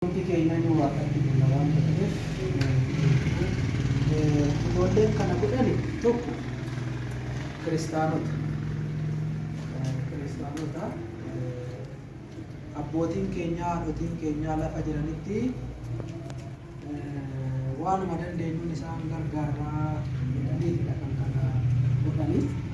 Hundi keenyayyuu Waaqatti bulla waanta ta'eef nu eebbise. Ijoolleen kana godhani tokko kiristaanota. Kiristaanota. Abbootiin keenyaa, haadhotiin keenyaa lafa jiranitti waanuma dandeenyuun isaan gargaarraa jedhaniitidha kan kana godhani.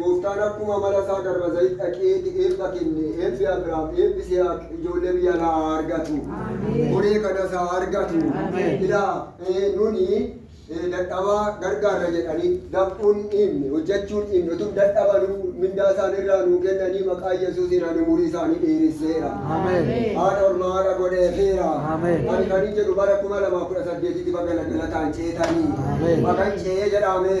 Gooftaan akkuma amala isaa Dabra Zayit dhaqee ti eebba kenne, eebbi Abraam, eebbi Sihaaq ijoollee biyya alaa haa argatu. Koree kanas haa argatu. Ilaa, nuni dadhabaa gargaarra jedhanii dafquun dhiifne, hojjachuun dhiifne, utuu dadhabanuu mindaa isaan irraa nuu kennanii maqaa Yesuusiin ani umurii isaanii dheeresseera. Haadha ormaa haadha godheefeera. Ani kanin jedhu bara 2018 tti baga galataan ceetanii. Bagan ce'ee jedhaamee.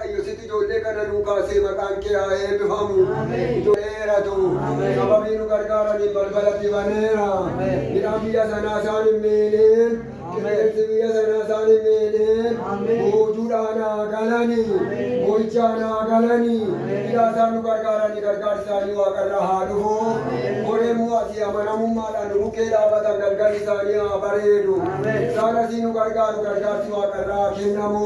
Waaqayyo situ ijoollee kana nuu kaase maqaan kee haa eebbifamu. Ijoolleeratu sababii nu gargaaraniin balbalatti baneera. Midhaan biyya sanaa isaan hin miidhin. Qilleensi biyya sanaa isaan hin miidhin. Boojuudhaan haa galani. Boo'ichaan haa galani. Ilaa isaan nu gargaaranii gargaarsi isaanii waaqarraa haa dhufu. Bor yommuu asii amanamummaadhaan nu bukkee dhaabatan galgalli isaanii haa bareedu. Isaan asii nu gargaaru gargaarsi waaqarraa haa kennamu.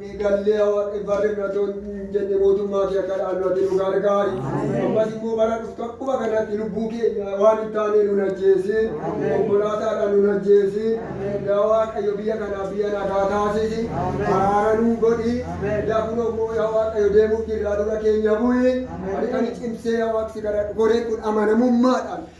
Gallee haa Waaqayyo barri nu ati hin jenne mootummaa kee akka dhaallu ati nu gargaari. Ammas immoo bara dhuftu akkuma kanatti lubbuu keenya waan hin taane nun ajjeesin. Konkolaataadhaan nun ajjeesin. Yaa Waaqayyo biyya kanaaf biyya nagaa taasisi. Araara nuu godhi. Yaa kunoo immoo yaa Waaqayyo deemuuf jirraa dura keenya bu'i. Ani kan cimsee yaa Waaqsi kadhadhu goreen kun amanamummaadhaan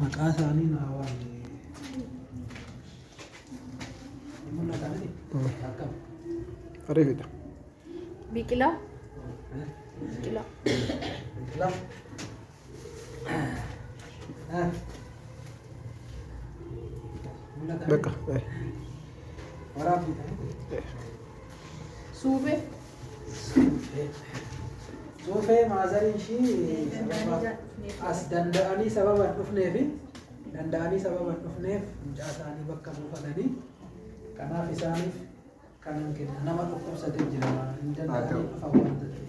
Maqaa isaanii naa waamne. Ariifidha. Biqilaa. Biqilaa. Bakka. Suufee. Suufee maazarii ishii as danda'anii sababa hin dhufneef danda'anii sababa hin dhufneef mucaa isaanii bakka buufatanii kanaaf isaaniif kanan kenna nama dhukkubsatee jira hin danda'anii dhufan waan ta'eef.